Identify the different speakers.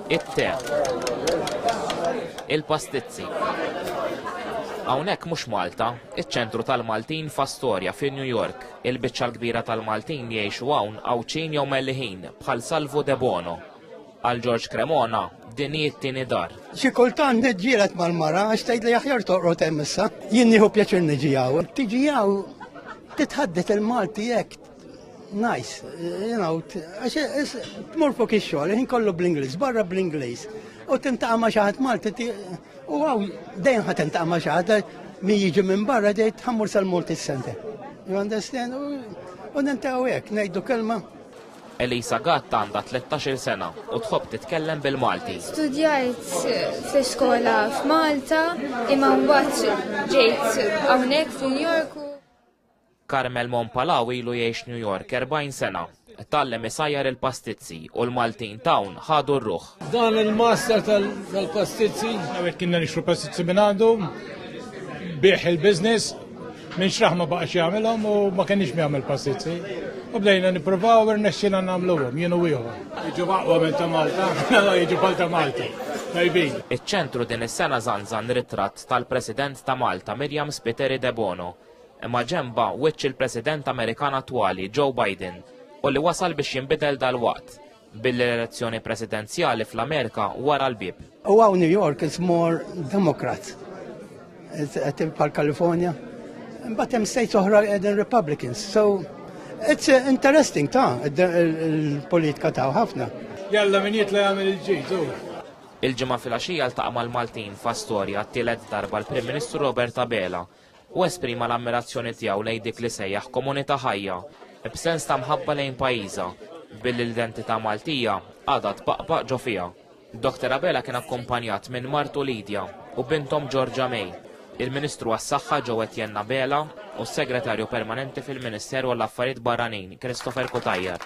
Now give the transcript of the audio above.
Speaker 1: It-te. Il-pastizzi. Hawnhekk mhux Malta, iċ-ċentru tal-Maltin f'Astorja fi New York. Il-biċċa l-kbira tal-Maltin jgħixu hawn Għawdxin jew Melliħin bħal Salvu De Bono. Għal Ġorġ Cremona din hi t-tieni dar. Xi kultant
Speaker 2: neġġielet mal-mara għax tgħid li aħjar toqgħod hemm issa. Jien nieħu pjaċir niġi hawn. Tiġi hawn titħaddet il-Malti hekk Nice, you know, għax tmur fuq ix-xogħol, ħin kollu bl-Ingliż, barra bl-Ingliż. U tintaqa' ma' xi ħadd Malti u għaw dejjem ħadd tintaqa' ma' xi ħadd min jiġi minn barra dejt tħammur sal-Malti Center. You understand? U nintaw hekk ngħidu kelma Elisa
Speaker 1: Gatt għandha 13 sena u tħobb titkellem bil-Malti. Studjajt
Speaker 3: fl-iskola f'Malta imma mbagħad ġejt hawnhekk f'New York Carmel
Speaker 1: Monpalaw ilu jgħix New York 40 sena. Tgħallem isajjar il-pastizzi u l-Maltin t'hawn ħadu r-ruħ. Dan il-master
Speaker 4: tal-pastizzi. Għawet kienna nixru pastizzi minn għandu, bieħ il-biznis, minn xraħ ma baqax jagħmilhom u ma kenniex jagħmel pastizzi. U bdejna nippruvaw u rnexxina nagħmluhom jienu ieħor. Jiġu aqwa minn ta' Malta, jiġu bħal ta' Malta. Tajbin. Iċ-ċentru
Speaker 1: din is-sena żanżan ritratt tal-President ta' Malta Mirjam Spiteri Debono Imma ġenba wiċċ il-President Amerikan attwali Joe Biden u li wasal biex jinbidel dal-waqt bil-elezzjoni presidenzjali fl-Amerika wara l-bib. U għaw New York
Speaker 2: is more Democrat. Għetim pal California. But hemm states oħra għedin Republicans. So it's uh, interesting ta' il-politika ta' ħafna. Jalla min jitla
Speaker 4: jgħamil il-ġizu. Il-ġimgħa
Speaker 1: fil-għaxija l-taqma l-Maltin fa' storja t-tielet darba l-Prim Ministru Robert Abela u esprima l-ammirazzjoni tiegħu lejn dik li sejjaħ komunità ħajja, b'sens ta' mħabba lejn pajjiżha, billi l-identità Maltija għadha tbaqbaq ġo fiha. Dr. Abela kien akkumpanjat minn martu Lidja u binthom Georgia May, il-Ministru għas-Saħħa Joe Etienne Abela u s-Segretarju Permanenti fil-Ministeru għall-Affarijiet Barranin Christopher Cutajar.